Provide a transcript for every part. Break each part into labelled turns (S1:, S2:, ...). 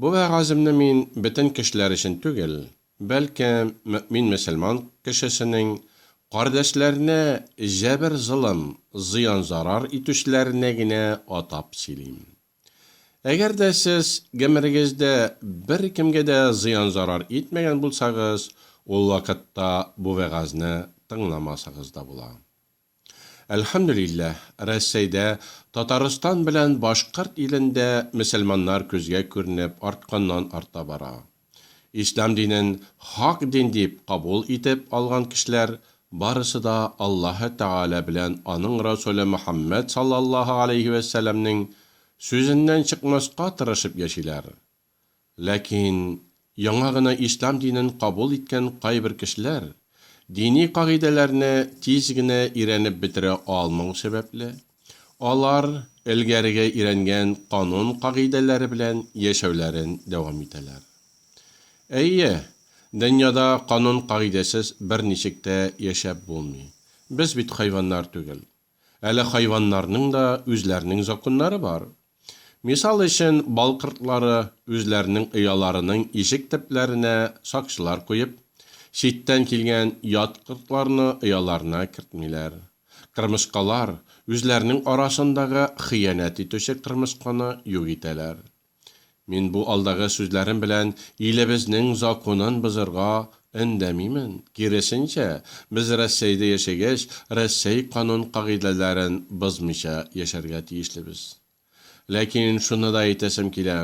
S1: Бу вәгаземне мин бөтен кешеләр өчен түгел, бәлки мөэмин-мөселман кешесенең кардәшләренә җәбер-золым, зыян-зарар итүчеләренә генә атап сөйлим. Әгәр дә сез гомерегездә беркемгә дә зыян-зарар итмәгән булсагыз, ул вакытта бу вәгазьне тыңламасагыз да була. Әлхәмдүлилләһ, Рәссәйдә, Татарстан белән Башкорт илендә мөселманнар күзгә күренеп артканнан-арта бара. Ислам динен хак дин дип кабул итеп алган кешеләр барысы да Аллаһы Тәгалә белән аның Расуле Мөхәммәд саллаллаһу алейһи вә сәләмнең сүзеннән чыкмаска тырышып яшиләр. Ләкин яңа гына ислам динен кабул иткән кайбер кешеләр дини кагыйдәләрне тиз генә өйрәнеп бетерә алмау сәбәпле, алар элгәреге өйрәнгән канун-кагыйдәләре белән яшәүләрен дәвам итәләр. Әйе, дөньяда канун-кагыйдәсез берничек тә яшәп булмый. Без бит хайваннар түгел. Әле хайваннарның да үзләренең законнары бар. Мисал өчен, бал кортлары үзләренең ояларының ишек төпләренә сакчылар куеп, читтән килгән ят кортларны ояларына кертмиләр. Кырмыскалар үзләренең арасындагы хыянәт итүче кырмысканы юк итәләр. Мин бу алдагы сүзләрем белән илебезнең законын бозырга өндәмимен, киресенчә, без Рәссәйдә яшәгәч, Рәссәй канун-кагыйдәләрен бозмыйча яшәргә тиешлебез. Ләкин шуны да әйтәсем килә,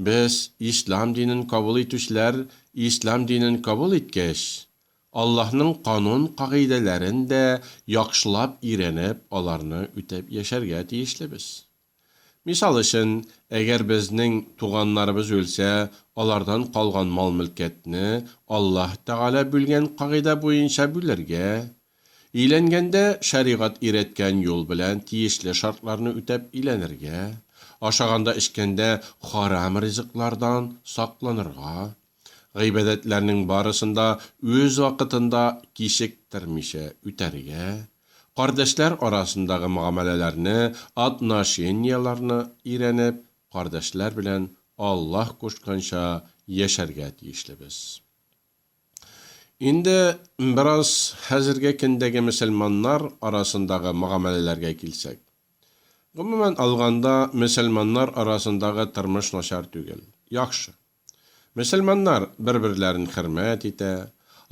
S1: без, ислам динен кабул итүчеләр, ислам динен кабул иткәч, Аллаһның канун-кагыйдәләрен дә яхшылап өйрәнеп, аларны үтәп яшәргә тиешлебез. Мисал өчен, әгәр безнең туганнарыбыз үлсә, алардан калган мал-мөлкәтне Аллаһ Тәгалә бүлгән кагыйдә буенча бүлергә, өйләнгәндә шәригать өйрәткән юл белән тиешле шартларны үтәп өйләнергә, ашаганда-эчкәндә харам ризыклардан сакланырга, гыйбадәтләрнең барысын да үз вакытында кичектермичә үтәргә, кардәшләр арасындагы мөгамәләләрне, отношенияләрне өйрәнеп, кардәшләр белән Аллаһ кушканча яшәргә тиешлебез. Инде бераз хәзерге көндәге мөселманнар арасындагы мөгамәләләргә килсәк. Гомумән алганда, мөселманнар арасындагы тормыш начар түгел, яхшы. Мөселманнар бер-берләрен хөрмәт итә,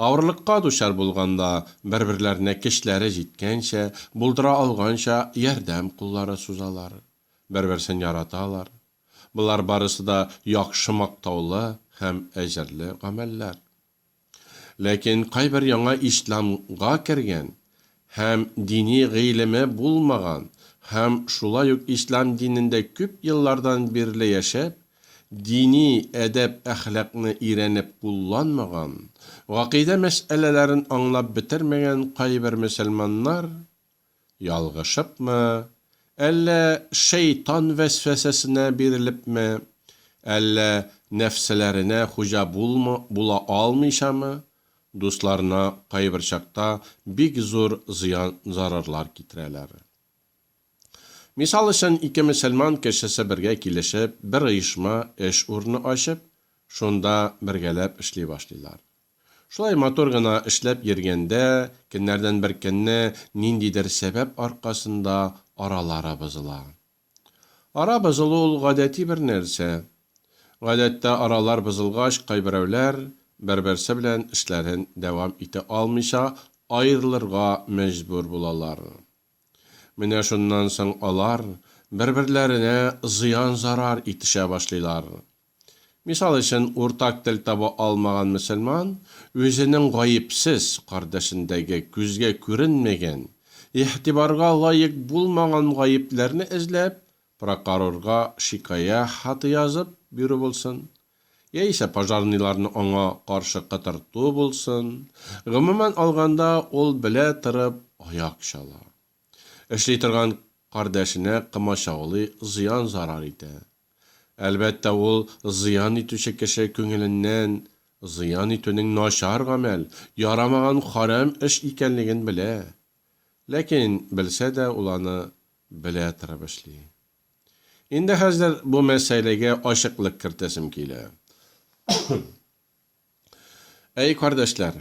S1: авырлыкка дучар булганда, бер-берләренә көчләре җиткәнчә, булдыра алганча ярдәм куллары сузалар, бер-берсен яраталар. Болар барысы да яхшы мактаулы һәм әҗерле гамәлләр. Ләкин кайбер яңа исламга кергән һәм дини гыйлеме булмаган һәм шулай ук ислам динендә күп еллардан бирле яшәп, дини әдәп-әхлакны өйрәнеп кулланмаган, гакыйдә мәсьәләләрен аңлап бетермәгән кайбер мөселманнар, Ялгышыпмы, әллә шәйтан вәсвәсәсенә бирелепме, әллә нәфселәренә хуҗа булмы, була алмыйчамы, дусларына кайбер чакта бик зур зыян-зарарлар китерәләр. Мисал өчен, ике мөселман кешесе бергә килешеп, бер оешма, эш урыны ачып, шунда бергәләп эшли башлыйлар. Шулай матур гына эшләп йөргәндә, көннәрдән бер көнне ниндидер сәбәп аркасында аралары бозыла. Ара бозылу ул гадәти бер нәрсә. Гадәттә аралар бозылгач, кайберәүләр бер-берсе белән эшләрен дәвам итә алмыйча аерылырга мәҗбүр булалар. Менә шуннан соң алар бер-берләренә зыян-зарар итешә башлыйлар. Мисал өчен, уртак тел таба алмаган мөселман үзенең гаепсез, кардәшендәге күзгә күренмәгән, игътибарга лаек булмаган гаепләрне эзләп, прокорорга шикая хаты язып бирү булсын, яисә пожарныйларны аңа каршы кытырту булсын, гомумән алганда, ул белә торып аяк чала. Эшли торган кардәшенә комачаулый, зыян-зарар итә. Әлбәттә, ул зыян итүче кеше күңеленнән зыян итүнең начар гамәл, ярамаган харам эш икәнлеген белә. Ләкин белсә дә ул аны белә торып эшли. Инде хәзер бу мәсьәләгә ачыклык кертәсем килә. Әй, кардәшләр!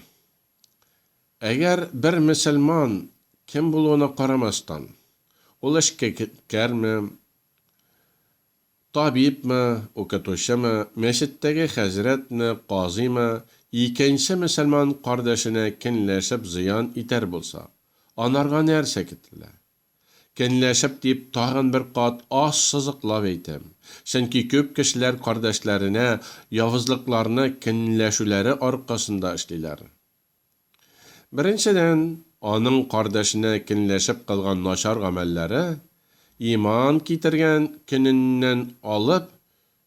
S1: Әгәр бер мөселман, кем булуына карамастан, ул эшккәрме, табибмы, укытучымы, мәчеттәге хәзрәтме, казыймы, икенче мөселман кардәшенә кенләшеп зыян итәр булса, анарга нәрсә кителә? Көнләшеп дип тагын бер кат ассызыклап әйтәм. Чөнки күп кешеләр кардәшләренә явызлыкларны көнләшүләре аркасында эшлиләр. Беренчедән, аның кардәшенә көнләшеп кылган начар гамәлләре, иман китергән көненнән алып,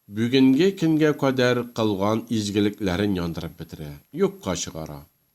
S1: бүгенге көнгә кадәр кылган изгелекләрен яндырып бетерә, юкка чыгара.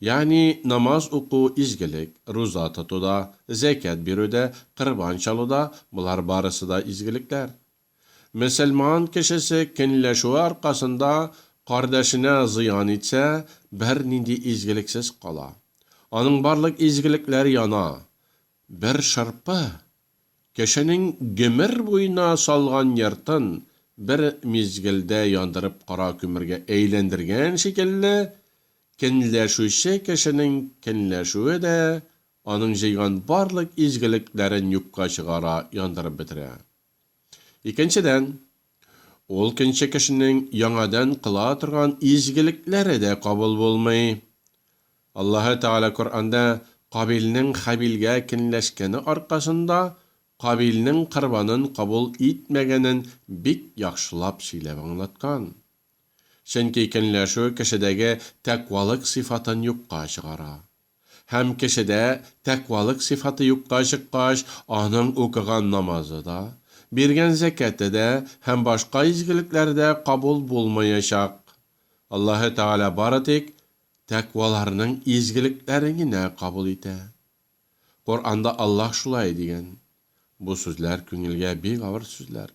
S1: Ягъни намаз уку, изгелек, руза тотуда, зәкят бирүдә, корбан чалуда, болар барысы да изгелекләр. Мөселман кешесе көнләшүе аркасында кардәшенә зыян итсә, бернинди изгелексез кала. Аның барлык изгелекләр яна. Бер шырпы Кешенең гомер буена салган йортын бер мизгелдә яндырып кара күмергә әйләндергән шикелле, көнләшүче кешенең көнләшүе дә аның җыйган барлык изгелекләрен юкка чыгара, яндырып бетерә. Икенчедән. Ул көнче кешенең яңадан кыла торган изгелекләре дә кабул булмый. Аллаһы Тәгалә Коръәндә Кабилнең Хәбилгә кенләшкәне аркасында Кабилнең корбанын кабул итмәгәнен бик яхшылап сөйләп аңлаткан. Чөнки кенләшү кешедәге тәкъвалык сыйфатын юкка чыгара. Һәм кешедә тәкъвалык сыйфаты юкка чыккач, аның укыган намазы да, биргән зәкяте дә һәм башка изгелекләре дә кабул булмаячак. Аллаһы Тәгалә бары тик тәкъваларның изгелекләрен генә кабул итә. Коръәнда Аллаһ шулай дигән. Бу сүзләр күңелгә бик авыр сүзләр.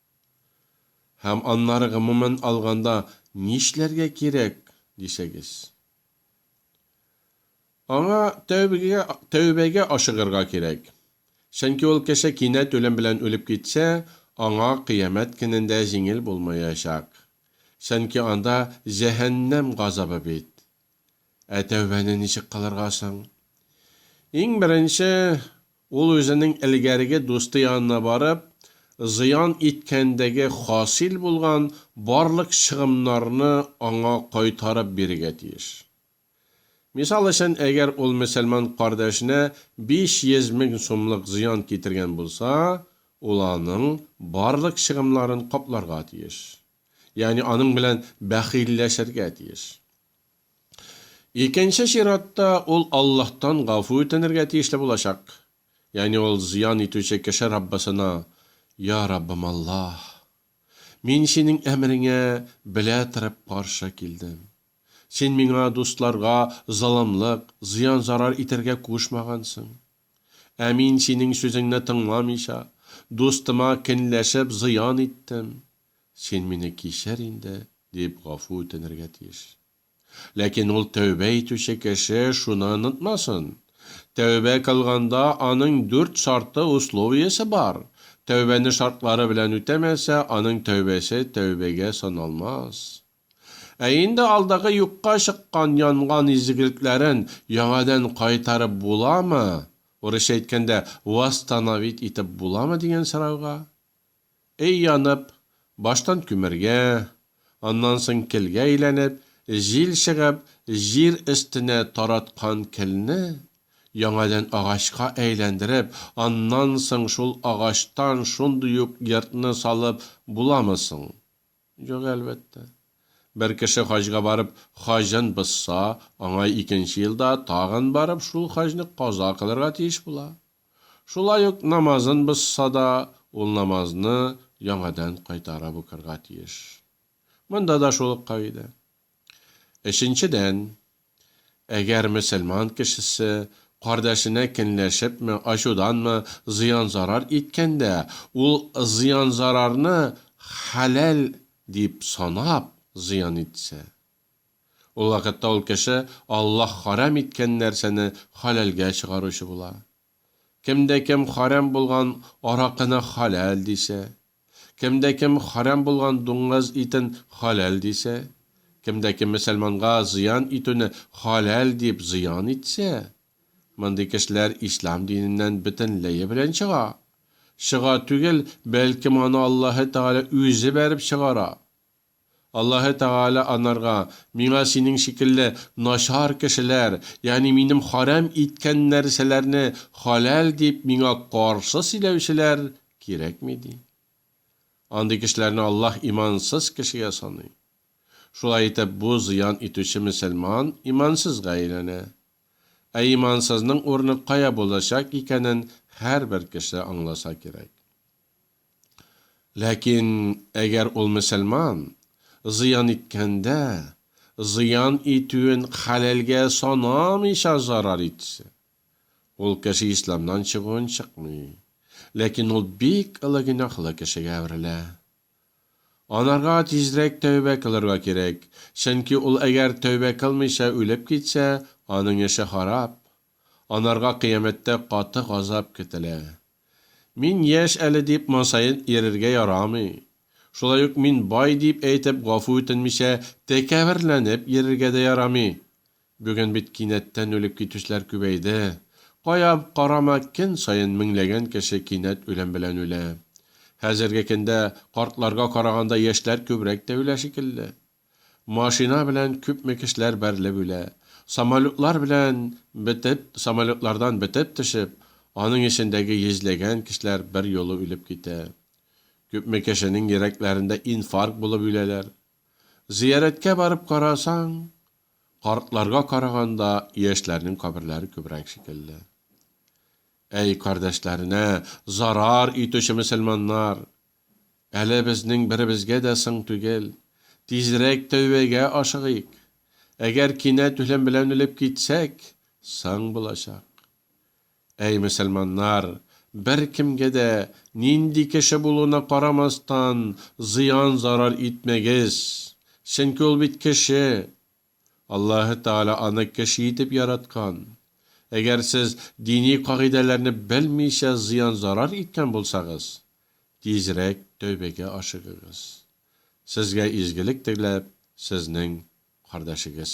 S1: Һәм аннары гомумән алганда нишләргә кирәк, дисәгез? Аңа тәүбәгә, тәүбәгә ашыгырга кирәк. Чөнки ул кеше кинәт үлем белән үлеп китсә, аңа Кыямәт көнендә җиңел булмаячак. Чөнки анда җәһәннәм газабы бит. Ә тәүбәне ничек кылырга соң? Иң беренче, ул үзенең элгәреге дусты янына барып, зыян иткәндәге хасил булган барлык чыгымнарны аңа кайтарып бирергә тиеш. Мисал өчен, әгәр ул мөселман кардәшенә 500 мең сумлык зыян китергән булса, ул аның барлык чыгымнарын капларга тиеш. Ягъни аның белән бәхилләшергә тиеш. Икенче чиратта, ул Аллаһтан гафу үтенергә тиешле булачак. Ягъни ул зыян итүче кеше Раббысына, Йа Раббым Аллаһ! Мин Синең әмереңә белә торып каршы килдем. Син миңа, дусларга, золымлык, зыян-зарар итәргә кушмагансың. Ә мин Синең сүзеңне тыңламыйча, дустыма кенләшеп зыян иттем. Син мине кичер инде, дип гафу үтенергә тиеш. Ләкин ул тәүбә итүче кеше шуны онытмасын, тәүбә кылганда аның дүрт шарты, условиесе бар, тәүбәне шартлары белән үтәмәсә, аның тәүбәсе тәүбәгә саналмас. Ә инде алдагы юкка чыккан, янган изгелекләрен яңадан кайтарып буламы, урысча әйткәндә, восстановить итеп буламы дигән сорауга, Өй янып, баштан күмергә, аннан соң келгә әйләнеп, җил чыгып, җир өстенә тараткан келне яңадан агачка әйләндереп, аннан соң шул агачтан шундый ук йортны салып буламы соң? Юк, әлбәттә. Бер кеше хаҗга барып, хаҗын бозса, аңа икенче елда тагын барып шул хаҗны каза кылырга тиеш була. Шулай ук намазын бозса да, ул намазны яңадан кайтарып укырга тиеш. Монда да шул ук кагыйдә. Өченчедән, әгәр мөселман кешесе кардәшенә көнләшепме, ачуданмы зыян-зарар иткәндә, ул зыян-зарарны хәләл дип санап зыян итсә, Ул вакытта ул кеше Аллаһ хәрам иткән нәрсәне хәләлгә чыгаручы була. Кемдә кем хәрам булган аракыны хәләл дисә, кемдә кем хәрам булган дуңгыз итен хәләл дисә, кемдә кем мөселманга зыян итүне хәләл дип зыян итсә, мондый кешеләр ислам диненнән бөтенләе белән чыга. Чыга түгел, бәлкем аны Аллаһы Тәгалә үзе бәреп чыгара. Аллаһы Тәгалә анарга, Миңа синең шикелле начар кешеләр, ягъни Минем харам иткән нәрсәләрне халәл дип Миңа каршы сөйләүчеләр кирәкми, ди. Андый кешеләрне Аллаһ имансыз кешегә саный. Шулай итеп, бу зыян итүче мөселман имансызга әйләнә. Ә имансызның урыны кая булачак икәнен һәрбер кеше аңласа кирәк. Ләкин әгәр ул мөселман, зыян иткәндә, зыян итүен хәләлгә санамыйча зарар итсә, ул кеше исламнан чыгуын чыкмый, ләкин ул бик олы гөнаһлы кешегә әверелә. Анарга тизрәк тәүбә кылырга кирәк, чөнки ул әгәр тәүбә кылмыйча үлеп китсә, аның эше харап, Анарга кыямәттә каты газап көтелә. Мин яшь әле дип мансаен ирергә ярамый. Шулай ук мин бай дип әйтеп гафу үтенмичә тәкәберләнеп ирергә дә ярамый. Бүген бит кинәттән үлеп китүчеләр күбәйде. Кая карама көн саен меңләгән кеше кинәт үлем белән үлә. Хәзерге көндә картларга караганда яшьләр күбрәк тә үлә шикелле. Машина белән күпме кешеләр бәрелеп үлә. Самолетлар белән бетеп, самолетлардан бетеп төшеп, аның эчендәге йөзләгән кешеләр берьюлы үлеп китә. Күпме кешенең йөрәкләрендә инфаркт булып үләләр. Зыярәткә барып карасаң, картларга караганда яшьләрнең каберләре күбрәк шикелле. Әй, кардәшләренә зарар итүче мөселманнар! Әле безнең беребезгә дә соң түгел, тизрәк тәүбәгә ашыгыйк. Әгәр кинәт үлем белән үлеп китсәк, соң булачак. Әй мөселманнар, беркемгә дә, нинди кеше булуына карамастан, зыян-зарар итмәгез, чөнки ул бит кеше! Аллаһы Тәгалә аны кеше итеп яраткан. Әгәр сез дини кагыйдәләрне белмичә зыян-зарар иткән булсагыз, тизрәк тәүбәгә ашыгыгыз. Сезгә изгелек теләп, сезнең кардәшегез.